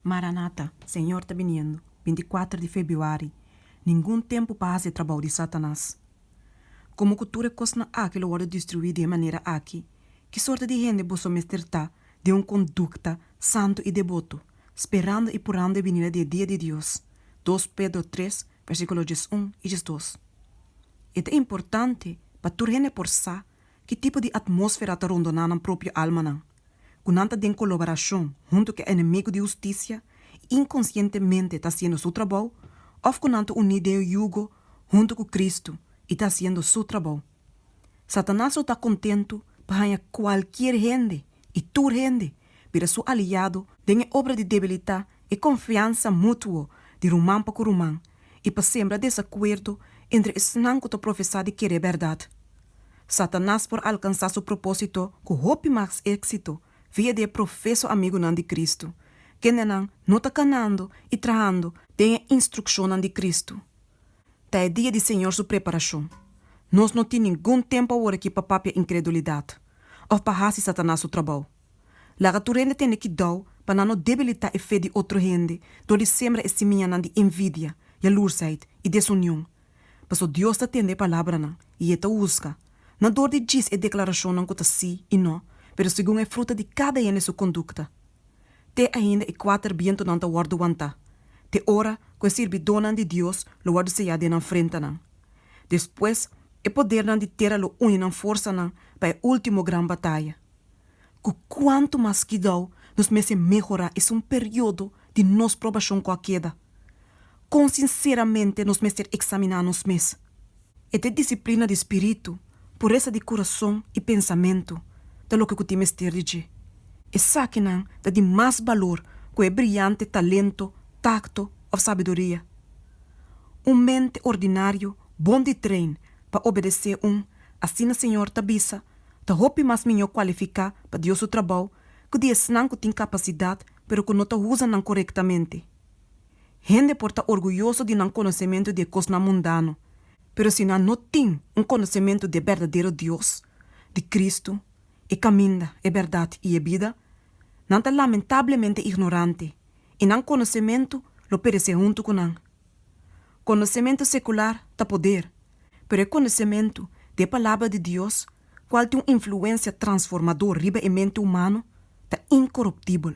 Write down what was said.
Maranata, Señor ta biniendo, binti kuater di Febiuari, Ningun tempu pa hasi e trabou di Satanas. Komo ku tur e kosnan aki lo wòrdu destruí di e manera aki, ki sorte di hende boso mester ta den un kondukta santu i debotu, sperando i purando e binida di e dia di Dios? Dos Pedro tres, versíkulo djes un i djes dos. E ta importante pa tur hende por sa ki tipo di atmósfera ta rondoná nan propio almanan. ku nan ta den koloborashon huntu ku e enemigu di hustisia i inkonsientemente ta hasiendo su trabou, òf ku nan ta uní den e yugo huntu ku Kristu i ta hasiendo Su trabou. Satanas lo ta kontentu pa haña kualkier hende i tur hende bira su aliado den e obra di debilitá e konfiansa mutuo di ruman pa ku ruman i pa sembra desakuerdo entre esnan ku ta profesá di kere bèrdat. Satanas por alkansá su propósito ku hopi mas éksito via di e profeso amigunan di Kristu, kendenan no ta kanando i trahando den e instrukshonnan di Kristu. Ta e dia di Señor su preparashon. Nos no tin ningun tempu awor aki pa papia inkredulidat òf pa hasi Satanas su trabou. Laga tur hende tende kidou pa nan no debilitá e fe di otro hende dor di sembra e simianan di envidia, yalursheid i desunion Paso Dios ta tende e palabranan i E ta husga, no dor di djis e deklarashonnan ku ta sí i no, pero segun e fruta di kada hende su kondukta. Te ainda e kuater bientunan ta wòrdu wantá, te ora ku e sirbidónan di Dios lo wòrdu seyá den nan frentanan. Despues, e podernan di tera lo uni nan forsanan pa e último gran bataya. Ku kuantu mas kidou nos mester mehorá esun periodo di nos probashon ku a keda! Kon sinseramente nos mester eksaminá nos mes? E ta e disiplina di spiritu, puresa di kurason i pensamentu ta loke ku tin mester di dje. Esakinan ta di mas balor ku e briante talento, takto òf sabiduria. Un mente ordinario bon di trein pa obedesé un Asina Señor ta bisa ta hopi mas miñó kualifiká pa Dios su trabou ku di esnan ku tin kapasidat pero ku no ta usa nan korektamente. Hende por ta orguyoso di nan konosementu di e kosnan mundano, pero si nan no tin un konosementu di e berdadero Dios, di Kristu, e kaminda, e bèrdat i e bida, nan ta lamentablemente ignorante i nan konosementu lo peresé huntu ku nan. Konosementu sekular ta poder, pero e konosementu di e Palabra di Dios, kual tin un influensia transformadó riba e mente humano, ta inkoruptibel.